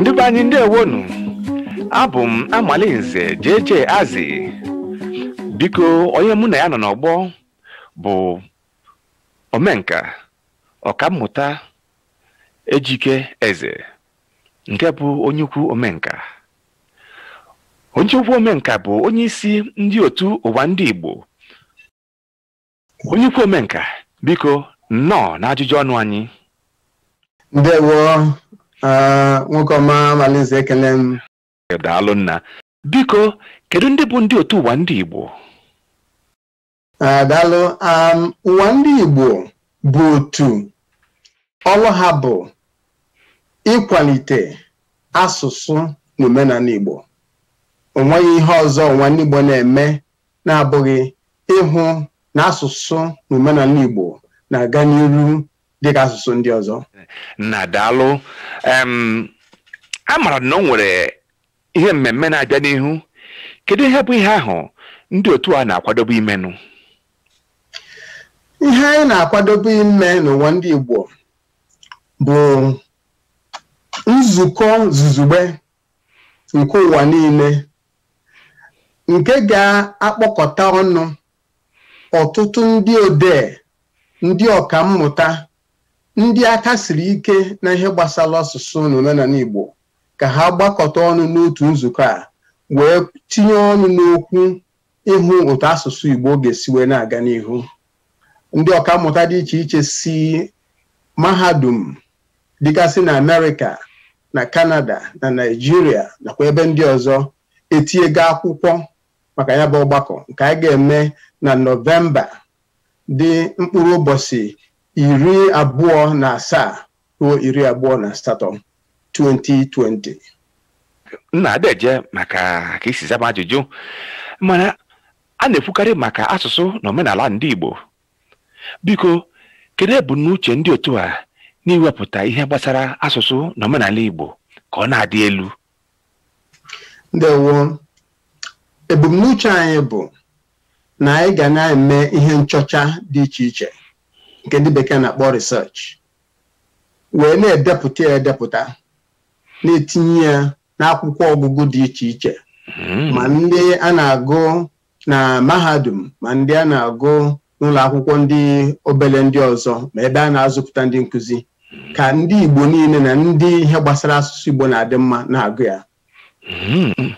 ndị be anyị ndewonu abụ m Amalinze JJ Azị biko onye mụ na ya nọ n'ọgbọ bụ omenka ọkammụta Ejike Eze nke bụ onye ukwu omenka onye ukwu omenka bụ onye isi ndị otu ụwa ndị Igbo onye ukwu omenka biko nnọọ n'ajụjụ ọnụ anyị ndewo ah, nwoke ọma Amalinze ekele m daalụ nna biko kedu ndị bụ ndị otu ụwa ndị Igbo daalụ um, ụwa ndị Igbo bụ otu ọrụ ha bụ ịkwalite asụsụ na omenala Igbo o nweghị ihe ọzọ ụwa ndị Igbo na-eme na-abụghị ịhụ na asụsụ na omenala Igbo na-aga n'iru dịka asụsụ ndị ọzọ nna daalụ amara na o nwere ihe mmemme na-abịa n'ihu kedu ihe bụ ihe ahụ ndị otu a na-akwadobe imenụ ihe anyị na-akwadobe ime n'ụwa ndị Igbo bụ nzukọ zuzugbe nke ụwa niile nke ga-akpọkọta ọnụ ọtụtụ ndị odee ndị ọkammụta ndị aka siri ike n'ihe gbasara asụsụ na omenala Igbo ka ha gbakọta ọnụ n'otu nzukọ a wee tinye ọnụ n'okwu ịhụ otu asụsụ Igbo ga-esi wee na-aga n'ihu ndị ọkammụta dị iche iche si mahadum dịgasị na Amerịka na Kanada na Naịjirịa nakwa ebe ndị ọzọ etinyego akwụkwọ maka ya bụ ọgbakọ nke a ga-eme na Nọvemba dị mkpụrụ ụbọchị iri abụọ na asaa ruo iri abụọ na asatọ 2020 nna deeje maka ka i si za m ajụjụ mana a na-ekwukarị maka asụsụ na omenala ndị Igbo biko kedu ebumnuche ndị otu a n'iwepụta ihe gbasara asụsụ na omenala Igbo ka ọ na-adị elu ndewo ebumnuche anyị bụ na anyị ga na-eme ihe nchọcha dị iche iche nke ndị bekee na-akpọ research wee na-edepụta ya edepụta na-etinye ya n'akwụkwọ ọgụgụ dị iche iche Hmm. ma ndị a na-agụ na mahadum ma ndị a na-agụ n'ụlọ akwụkwọ ndị obere ndị ọzọ ma ebe a na-azụpụta ndị nkụzi ka ndị Igbo niile na ndị ihe gbasara asụsụ Igbo na-adị mma na-agụ ya Hmm.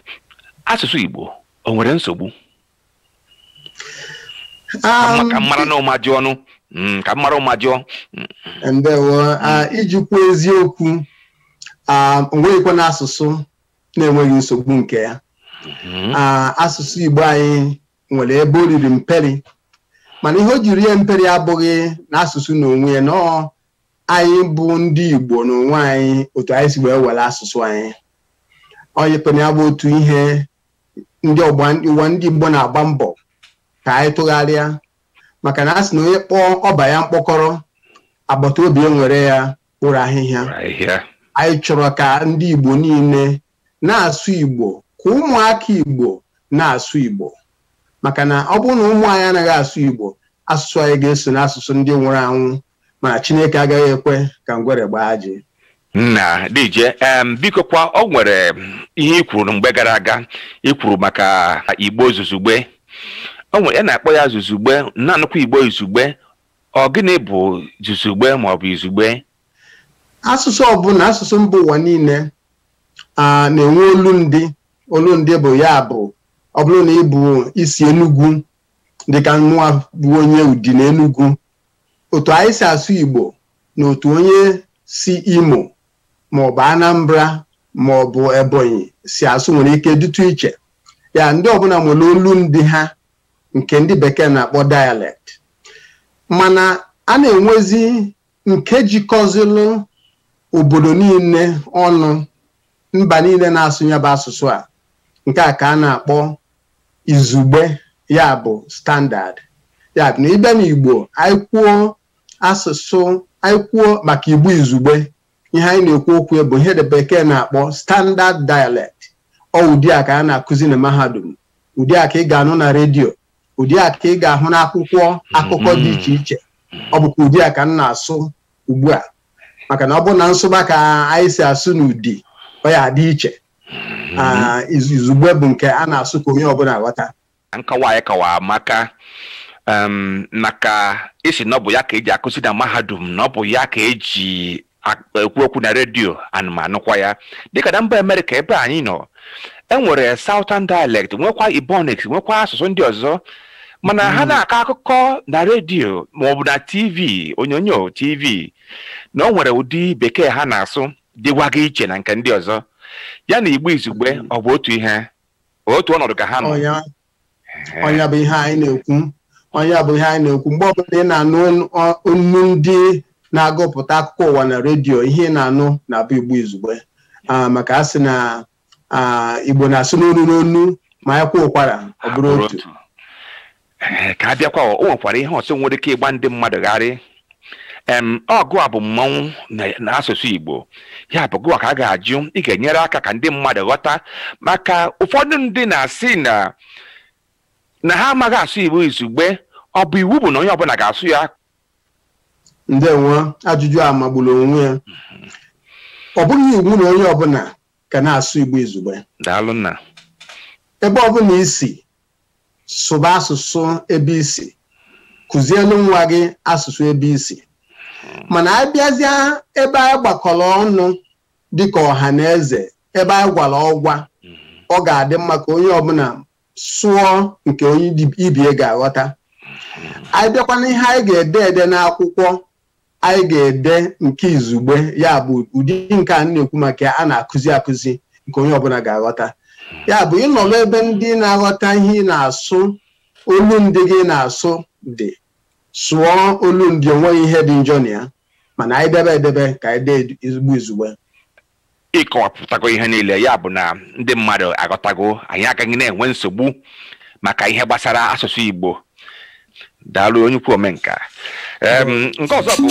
asụsụ Igbo o nwere nsogbu um, ka m maranụ ụma jụọnụ mm, ka m mara ụma jụọ mm. ndewo ah, iji kwuo eziokwu ah, o nweghịkwanụ asụsụ na-enweghị nsogbu nke ya mm-hmm. ah, asụsụ Igbo anyị nwere ebe o riri mperi mana ihe o ji rie mperi abụghị na asụsụ na onwe ya na ọ anyị bụ ndị Igbo na onwe anyị otu anyị si wee were asụsụ anyị onye kpena ya bụ otu ihe ndị Ụwa ndị Igbo na-agba mbọ ka anyị tụgharịa maka na a sị na onye kpọọ ọba ya mkpọkọrọ agbata obi ewere ya kporo ahịhịa anyị chọrọ ka ndị Igbo niile na-asụ Igbo ka ụmụaka Igbo na-asụ Igbo maka na ọ bụrụ na ụmụ anyị anaghị asụ Igbo asụsụ anyị ga-eso n'asụsụ ndị nwụrụ anwụ mana chineke agaghị ekwe ka ngwere gbaa ajị nna DJ em biko kwa o nwere ihe i kwuru mgbe gara aga i kwuru maka Igbo zuzugbe o nwere ya na-akpọ ya zuzugbe na-anụkwa Igbo izugbe ọ gịnị bụ zuzugbe ma ọ bụ izugbe asụsụ ọbụla asụsụ mba ụwa niile a na-enwe olundị olundị bụ ya bụ ọ bụrụ na ị bụ i si Enugwu dịka mụwa bụ onye Udi na Enugwu otu anyị si asụ Igbo na otu onye si Imo maọbụ Anambra maọbụ Ebonyi si asụ nwere ike dịtụ iche ya ndị ọbụla nwere olundị ha nke ndị bekee na-akpọ dialect mana a na-enwezi nke jikọzilụ obodo niile ọnụ mba niile na-asụ ya bụ asụsụ a nke a ka a na-akpọ izugbe ya bụ standard ya bụ na ị bịa n'Igbo anyị kwuo asụsụ anyị kwuo maka Igbo izugbe ihe anyị na-ekwu okwu ya bụ ihe ndị bekee na-akpọ standard dialect ọ ụdị a ka a na-akụzi na mahadum ụdị a ka ị ga-anụ na redio ụdị a ka ị ga-ahụ n'akwụkwọ akụkọ dị iche iche ọ bụkwa ụdị a ka m na-asụ ugbu a maka na ọ bụrụ na m sụba ka anyị si asụ n'Udi ọ ya-adị iche ah, izu- izugbe bụ nke a na-asụ ka onye ọbụla ghọta nkọwa a ị kọwara maka em, na ka ị sị na ọ bụ ya ka eji akụzi na mahadum na ọ bụ ya ka eji ak- ekwu okwu na redio ana m anụkwa ya dịka na mba Amerịka ebe anyị nọ e nwere southern dialect nwekwa Ebonics nwekwa asụsụ ndị ọzọ mana ha na-akọ akụkọ na redio maọbụ na tv onyonyo tv na o nwere ụdị bekee ha na-asụ dịwaga iche na nke ndị ọzọ ya na Igbo izugbe ọ bụ otu ihe otu ọnọdụ ka ha nọ ọ nya ọ nya bụ ihe anyị na-ekwu ọ nya bụ ihe anyị na-ekwu mgbe ọbụla ị na-anụ onu- ọ- onu ndị na-agụpụta akụkọ ụwa na redio ihe ị na-anụ na-abụ Igbo izugbe Ah, maka a sị na ah, igbo na-asụ n'onu n'onu ma ya kwaa ụkwara ọ bụrụ otu Ee, ka a bịakwa o nwekwara ihe ọzọ nwere ike ịgba ndị mmadụ gharị em ọ gụwa bụ mmanwụ na- n'asụsụ igbo ya bụ gụwa ka a ga-ajụ ị ga-enyere aka ka ndị mmadụ ghọta maka ụfọdụ ndị na-asị na na ha amaghị asụ igbo izugbe ọ bụ iwu bụ na onye ọbụla ga-asụ ya ndewo ajụjụ a magburu onwe ya ọ bụghị iwu na onye ọbụla ga na-asụ igbo izugbe daalụ nna ebe ọbụla i si sụba asụsụ ebe i si kụzielu nwa gị asụsụ ebe i si mana a bịazịa ebe anyị gbakọrọ ọnụ dịka ọha na eze ebe anyị gwara ọgwa ọ ga-adị mma ka onye ọbụla sụọ nke onye ibe ya ga-aghọta anyị bịakwa n'ihe anyị ga-ede ede n'akwụkwọ anyị ga-ede nke izugbe ya bụ ụdị nke a na-ekwu maka ya a na-akụzi akụzi nke onye ọbụla ga-aghọta ya bụ ị nọrọ ebe ndị na-aghọta ihe ị na-asụ olu ndị gị ị na-asụ dị sụọ olu ndị o nweghị ihe dị njọ na ya mana anyị debe edebe ka anyị dezie igbo izugbe ị kọwapụtago ihe niile ya bụ na ndị mmadụ aghọtago anyị agaghị na-enwe nsogbu maka ihe gbasara asụsụ Igbo daalụ onye ukwu omenka Em, nke ọzọ bụ